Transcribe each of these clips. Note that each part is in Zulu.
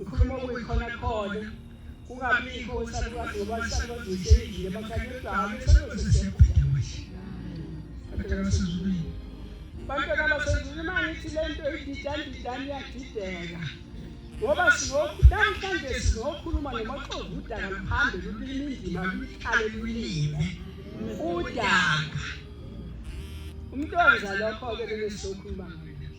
ukhuluma okuyikhona khona kungabikho usalukazi ngoba isalukazi uyisheyile emakhaya kodwa hhayi isalukazi siyakuphinda kuhle abantwana basezulwini bantwana basezulwini uma ngithi le nto ididani didani iyadideka ngoba namhlanje sizokhuluma nomaxovu udaka luhambe lulima indima luyikhale lulime udaka umntwana lokho-ke bebe sizokhuluma ngayo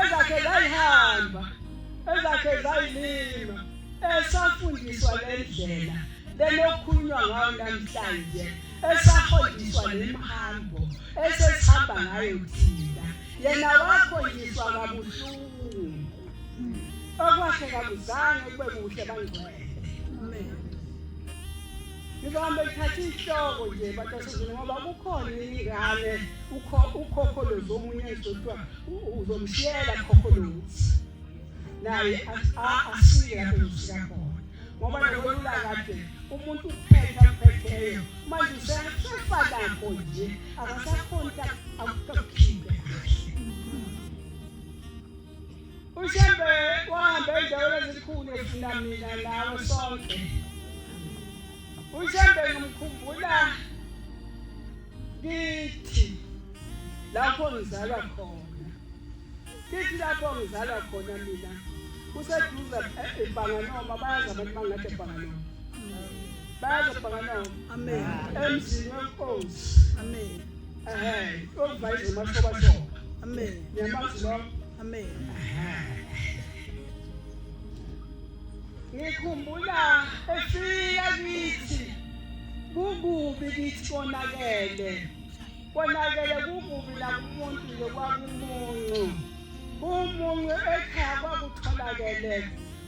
ezakhe zayihamba ezakhe zayilima esafundiswa le ndlela lenokhulunywa ngayo namhlanje esafundiswa le mhambo esesihamba ngayo thina yena wakhonjiswa kabuhlungu okwakhe kakuzange kube kuhle bangcwele ngizobamba ngithatha ihloko nje batasizini ngoba kukhona ingane ukhokholozi omunye ezothiwa uzomshiyela khokholozi naye asike lapho ngifika khona ngoba nokwelula kade umuntu uphetha phetheyo manje usefa lakho nje akasakhonta akukhiphe kahle ushembe wahamba endaweni ezikhulu efuna mina nawe sonke ushembe ngimkhumbula kithi lapho ngizalwa khona kithi lapho ngizalwa khona mina kuseduze eh, ebhanganoma bayazi abantu bangathi ebhanganoma bayazi ebhanganoma emzini wenkosi ngikhumbula efika kithi kukubi kithi konakele konakele kukubi nakumuntu nje kwakumuncu kumuncu ekhaya kwakutholakele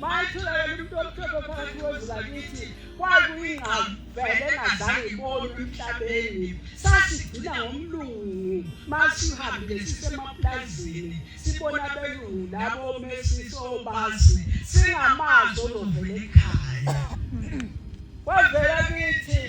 Mayitholakala umuntu omhlophe phakathi kwezwe lakithi kwakuyingqavele engazange ibonwe emhlabeni. Sasigcina ngomlungu masihambile sisemapulazini sibona abelungu labo mesisobazi singamazi ozovela ekhaya. Kwavela kithi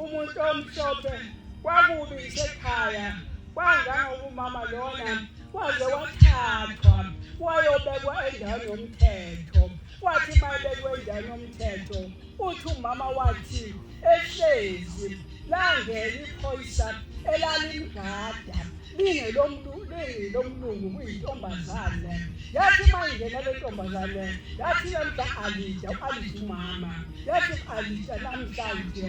umuntu omhlophe kwakubi isekhaya kwangangokumama lona waze wathathwa wayobekwa endaweni yomthetho kwathi mayebekwe endaweni yomthetho uthi umama wathi ehlezi langena iphoyisa elalimgada lingelomuntu lingilomlungu kuyintombazane yathi uma ingena le ntombazane yathi namhla alida u-alida umama yathi u-alida namhlanje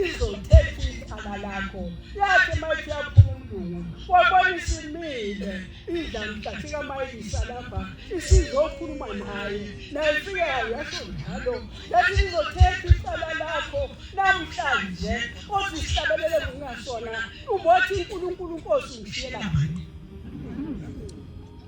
izothetha ikhala lakho yathi mayithi yaphuma umlungu wabona isimile idla mhlathi kamayisa lapha isizokhuluma naye naye fikayo yasho njalo yathi sizothetha icala lakho namhlanje othi sihlabelele ngokungasona ubothi unkulunkulu nkosi ngishiyela mani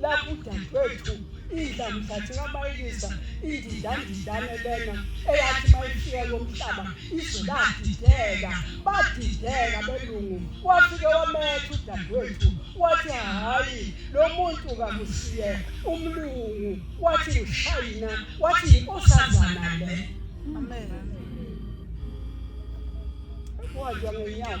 lapho udadewethu idla mhlathi kabayekisa indidandidane lena eyathi mayifika yomhlaba izwe ladideka badideka belungu wafike wametha udadewethu wathi hhayi lo muntu kakusiye umlungu wathi ngishayina wathi yinkosazana le amen wathi ngenyawo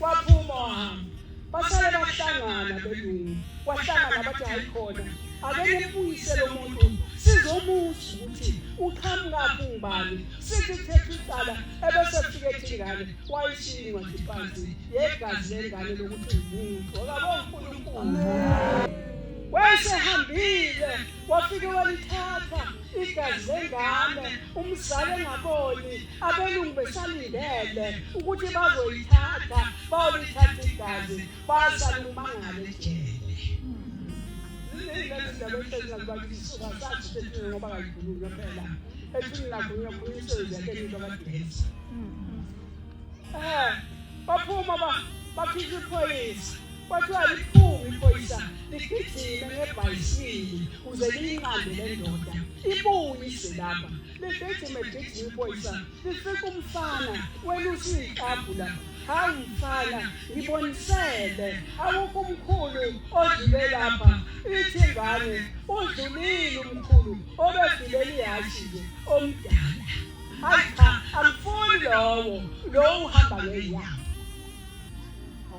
Waphuma wahamba. Basale bahlangana belungu. Wahlangana bathi hayi khona. Ake nibuyise lo muntu sizomuthi ukuthi uqhamuka kungubani sithi kuthetha icala ebese kufike ethingane wayishini incwadi phansi yegazi lengane lokuthi umuntu okabo uNkulunkulu wayesehambile wafike walithatha igazi lengane umzali engaboni abelungu besalindele ukuthi bazoyithatha bayolithatha igazi basale umangale ejele ngoba kayikhulunywa phela ekhini lakhulunywa khulunywa isenzi yakhe into abadinisa um baphuma bakhipha iphoyisa Kwathiwa liphunga iphoyisa ligijime ngebhayisikili kuze liyinqande le ndoda ibuye ize lapha ligijime gijima iphoyisa lifika umfana welusa iyiklabhu lapha hawu mfana ngibonisele awukho umkhulu odlule lapha ithi ingane udlulile umkhulu obegibele ihashi nje omdala hayi cha angifuni lowo lowo uhamba ngeyawo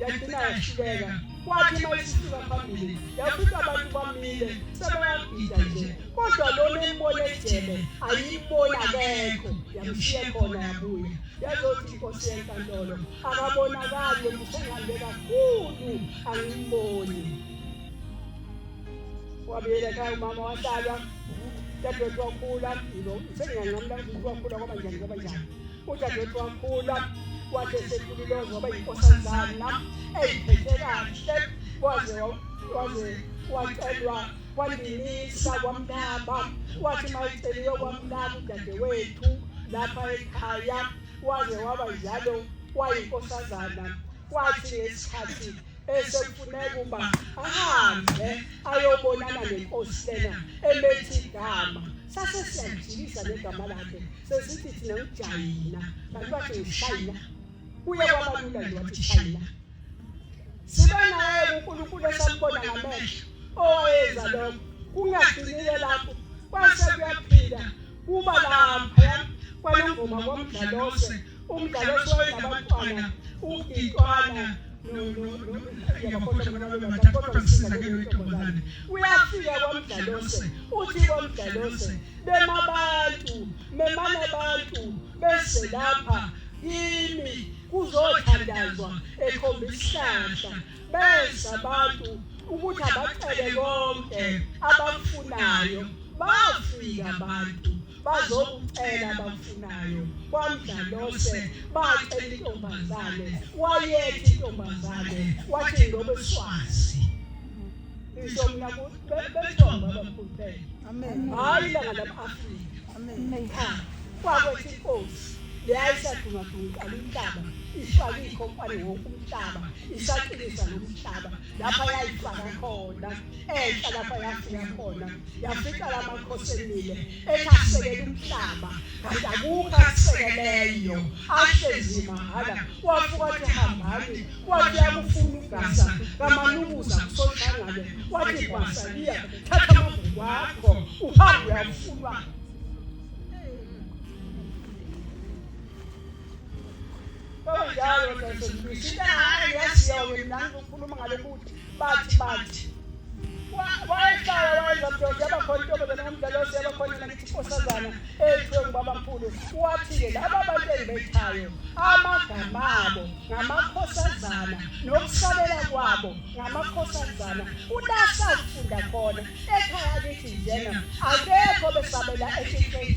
yagcina yahluleka kwathi uma isisuka phambili yafica abantu bamile sebeyagida nje kodwa lona embona ejele ayibona akekho yamshiye khona yabuya yazothi inkosi yenkantolo akabonakali musengihambe kakhulu angimboni wabuyela ekhaya umama wahlala dadewethu wakhula sengiyanqamla ukuthi wakhula kwaba njani kwaba njani udadewethu wakhula wathi esekhulilozwa waba yinkosanzana eyiphethe kahle waze waze wacelwa kwandinisa kwamnaba wathi mayiceliwe kwamnaba udadewethu lapha ekhaya waze waba njalo wayinkosazana kwathi ngesikhathi esekufuneka uba ahambe ayobonana nenkosi lena emethi igama sase siyajikisa negama lakhe sesithi thina ngijayina kanti wathi ngishayina kuye kwabalula nje wathi shayina sibe naye unkulunkulu esambona ngamehlo owayenza lokho kungagcinile lapho kwase kuyaphila kuba laphaya kwanongoma komdlalose umdlalo esiwaye nabantwana ugitwana yabakhosha bona babe bathathu kodwa kusizakele wentombazane uyafika kwamdlalose uthi kwamdlalose bema abantu memane abantu bese lapha kimi kuzothandazwa ekhomba isihlahla beza abantu ukuthi abacele konke abafunayo bafika abantu bazokucela abafunayo kwamdlalose bacela intombazane wayethi intombazane wathi ngobeswazi isho mina bethomba abamkhulupele hayi langa lama-afrika kwakwethi inkosi leyayisadungadungiqala umhlaba ifaka iy'khompani wonke umhlaba isaqinisa lo mhlaba lapha yayifaka khona enhla lapha yafika khona yafica la makhosi emile ethi asekele umhlaba kanti akukho akusekeleyo ahlezi mahhala wafuka athi hambani wathi yakufuna ugasa kamanukuza kusoshangane wathi gwasa liya thatha amavuku akho uhambe uyafunwa njalo sesibisinayo yasiyoke nangu ukhuluma ngale kuthi bathi bathi wayehlala wayenza mdoda yabakhona intombazana ngomdala ose yabakhona nakithi inkosazana eyithiwe ngubabamkhulu wathi-ke laba bantu engibethayo amagama abo ngamakhosazana nokusabela kwabo ngamakhosazana kulasa ukufunda khona ekhaya kithi njena akekho besabela ekhisheni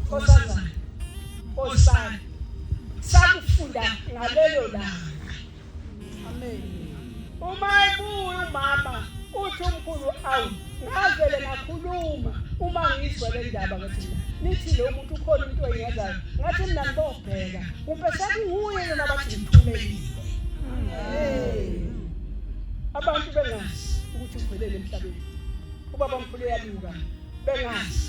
khosazana osana sakufunda ngalelo langa amen uma ebuya umama uthi umkhulu awu ngavele ngakhuluma uma ngizwa le ndaba ngathi nithi lo muntu ukhona into engenzayo ngathi mina ngibobheka kumbe sekunguye yena bathi ngithumelile abantu bengazi ukuthi uvelele emhlabeni ubaba mkhulu uyaluka bengazi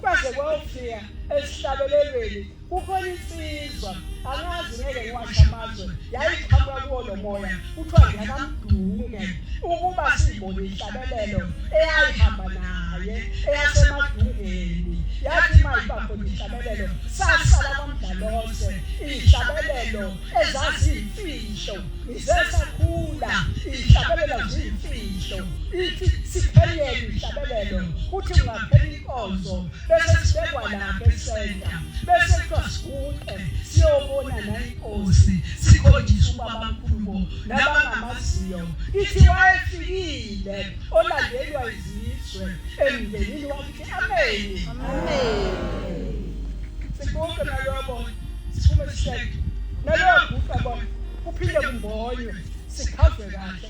kwaze kwawufika esihlabelelweni kukhona insizwa angazi ngeke ngiwasha amazwe yayiqhamuka kuwo lo moya kuthiwa ngiyakamdunge ukuba sibone inhlabelelo eyayihamba naye eyasemadungeni yathi uma iba khona inhlabelelo sasala kwamdlalose inhlabelelo ezaziyimfihlo ngisesakhula inhlabelelo ziyimfihlo ithi siphelele inhlabelelo kuthi ungaphela inkonzo bese sibekwa lapha esenta bese kuthiwa siguqe siyobona nayinkosi sikhonjiswa ubaba mkhulubo nabangamaziyo ithi wayefikile olandelwa izizwe emndenini wakithi ameni siguqe nalobo siphume sihleke naloyo guqa bona kuphinde kumbonywe sikhavwe kahle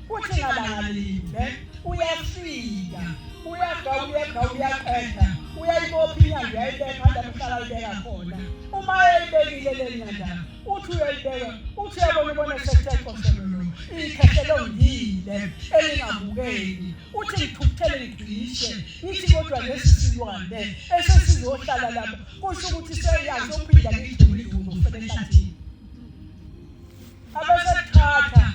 uthi ngalangalinde uyafika uyagawuyega uyaqeda uyayibopha inyanda uyayibeka anda kuhlala libeka khona uma eyibekile le nyanda uthi uyayibeka uthi uyabona ubona sesethekoshelolo ikhehlela ongile elingabukeki uthi ngithukuthele ngigcishe ngithi kodwa lesi silwane esesizohlala lapho kusho ukuthi seyazi ophinda ngigcule ivumo fele ehlathini abasethatha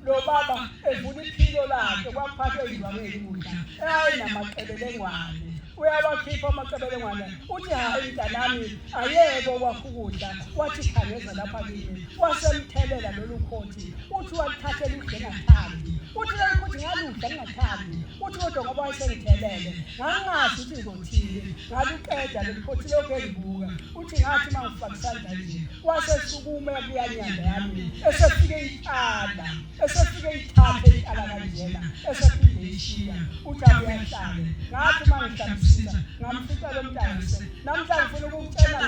lobaba evuna iphilo lakhe kwaphathwa izibameli kudla ayinamaqebelengwane uyawakhipha amaqebelengwane uthi hayi mntanami ayeke okwakho ukudla wathi khangeza lapha kimi wasemthelela lolu khothi uthi waluthathela udle ngathandi uthi lolu khothi ngaludla ngingathandi uthi kodwa ngoba wayesengithelele ngangazi ukuthi ngizothini ngaluqeda lolu khothi lokhu engibuka uthi ngathi uma ngifaka isandla nje wasesukuma yabuya nyanda yami esefike iqala esefike ithathe iqala kanjena esephinde ishiya uthi abuyahlale ngathi uma ngihlambisisa ngamfica lo mntangise namhla ngifuna ukucela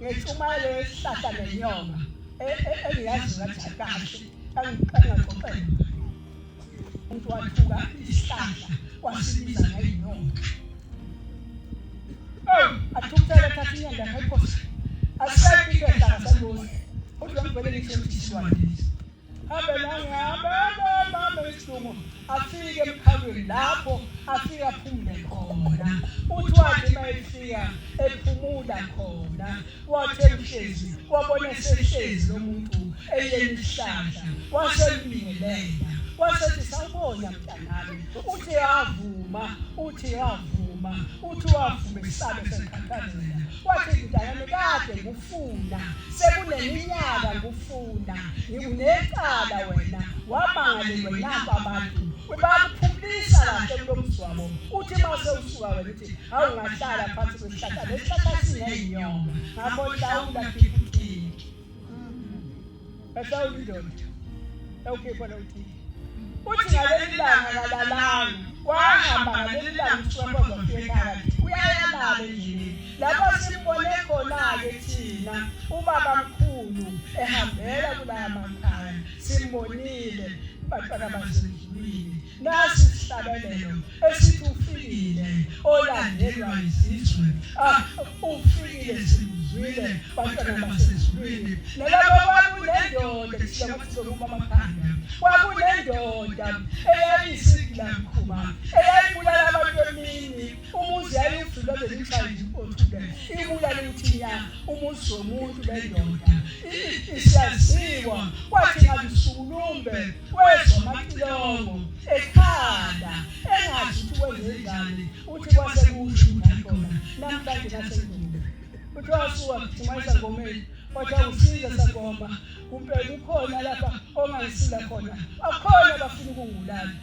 ngentshumayelo yesihlahla nenyonga engiyazi ngathi akahle angiqangaxoxela umuntu wathuka isihlahla kwasibiza ngeyinyoka athukuthele thatha inyanda ngayiphosa asisekho into ehlaka sangoni kodwa ngibhekele ngisho ukuthi siwadilisa hambe nangihambe isilungu afike emkhalweni lapho afike aphumule khona uthi wathi uma efika ephumula khona wathi ebuhlezi wabona esehlezi lo muntu eyeni isihlahla wasembingelela wasethi sawubona mntanami uthi yavuma uthi yavuma uthi wavuma isabe seqhaqhazela wathi mntanami kade ngufuna sekuneminyaka ngufuna ngikunecala wena wamangalelwe nabo abantu bakuphumisa kahle kulomzwabo uthi mase usuka wena awungahlala phansi kwesihlahla lesihlahla sineyinyoka ngakho hlawula khiphuthiki ehlawula indoda ewukhipha lowuthile uthi ngaleli langa kalalanga wahamba ngaleli langa usiwakoza kuyekhaya uyayalala endlini lapho simbone khona-ke thina ubaba mkhulu ehambela kulaya makhaya simbonile bantwana basendlwini nasi isihlabelelo esithi ufikile olandelwa izizwe ah, ufikile simzwile bantwana basezulwini nalabo kwakunendoda sihlabasizokuma amakhanda kwakunendoda eyayisigila mkhuba eyayibulala abantu emini umuzi yayivulwa lelikhandi othule ibuya lithinya umuzi womuntu bendoda isiyaziwa kwathi ngabisukulumbe wezwa amacilongo ekhanda engazi ukuthi kwenzenjani uthi kwase kusho ukuthi akhona namhlanje nasendumbe kuthiwa suka kuthumasa ngomeni kodwa usize sagomba kumbe kukhona lapha ongangisila khona akhona bafuna ukungibulala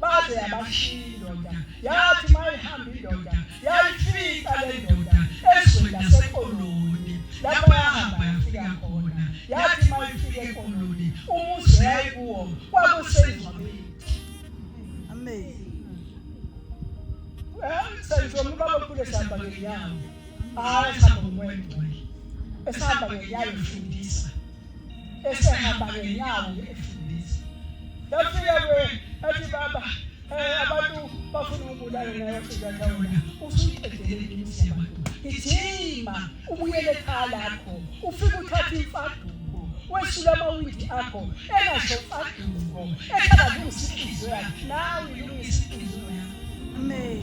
baze yabashiya indoda yathi uma ihamba indoda yayifica le ndoda ezweni lasekoloni lapho yahamba yafika khona yathi uma ifika ekoloni umuzi yayikuwo kwakusengcwabeni amen senjoma ubaba omkhulu esihamba ngenyawo hayi esihamba ngomoya engcwele esihamba ngenyawo efundisa esehamba ngenyawo efundisa yafika kwe athi baba eh, abantu bafuna ukubulala naye fika ndawona usuyiqedele imizi yabantu ngithima ubuyele ekhaya lakho ufike uthathe imfaduko wesula amawindi akho engasho mfaduko ekhalazungisa inhliziyo yakhe nawe ilungisa inhliziyo yakho amen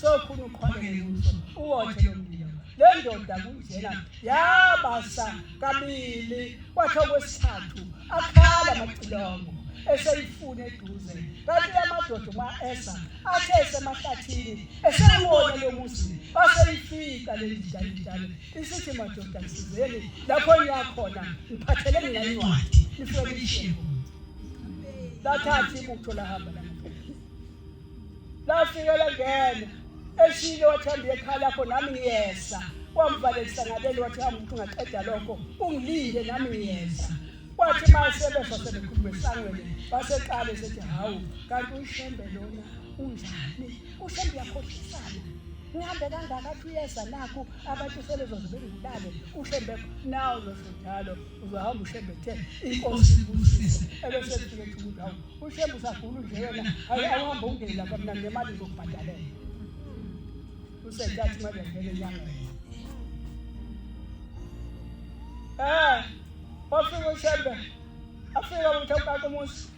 sokhona uqhwakele kuso uwothe umndeni le ndoda kunjena yabasa kabili kwakhe okwesithathu akhala amacilongo eseyifuna eduze kanti amadoda uma esa athe esemahlathini esewona lo muzi aseyifika le ndidalidale isithi madoda sizeni lapho niyakhona ngiphathele mina incwadi nifike nishiye lathatha ibutho lahamba lafike langena eshilo wathanda ekhala lakho nami ngiyeza wamvalelisa ngaleli wathi hamba ukuthi ungaqeda lokho ungilinde nami ngiyeza kwathi masebefa sebekhuluma esangweni baseqale sethi hawu kanti uyishembe lona unjani ushembe uyakhohlisana ngihambe kangaka athi uyeza nakho abantu sebezozibengibulale ushembe nawo losho njalo uzohamba ushembe kuthe inkosi ibusise ebese ethi ukuthi hawu ushembe usagula nje wena hayi awuhambe ungeni lapha mina ngemali ngizokubhadalela usentathu imali yangena enyangeni um wafika ushembe afika ukuthi awukake umuzi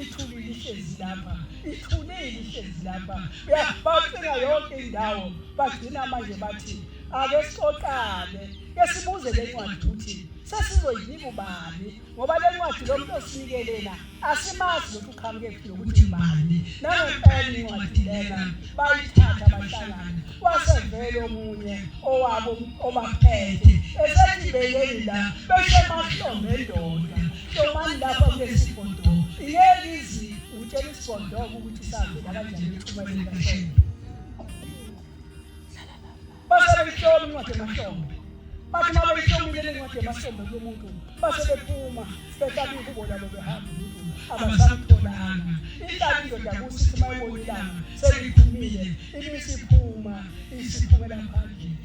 Ithuli lihlezi lapha, ithuli lihlezi lapha. Uyabacinga yonke indawo, bagcina manje bathi ake sixoxane, ke sibuze le ncwadi ukuthi sesizoyinika ubani ngoba le ncwadi lo muntu osinikelena asimazi ukuthi uqhamuke kuphi nokuthi ubani nangempela incwadi lena bayithatha bahlangana wasevele omunye owabo obaphethe esethi beyeni la beshe mahlombe ndoda Hlomani lapha kulesi bhodongo. Ngeke izi utshela isibhodongo ukuthi sahambela kanjani ithuba likaShembe. Base behloma incwadi emahlombe. Bathi uma behlomile le ncwadi emahlombe kumuntu base bephuma behlaba ingubo labo behamba umuntu abasamtholanga. Ihlaba indoda kusithi uma ibona ilanga seliphumile ibisiphuma isiphumela phandle.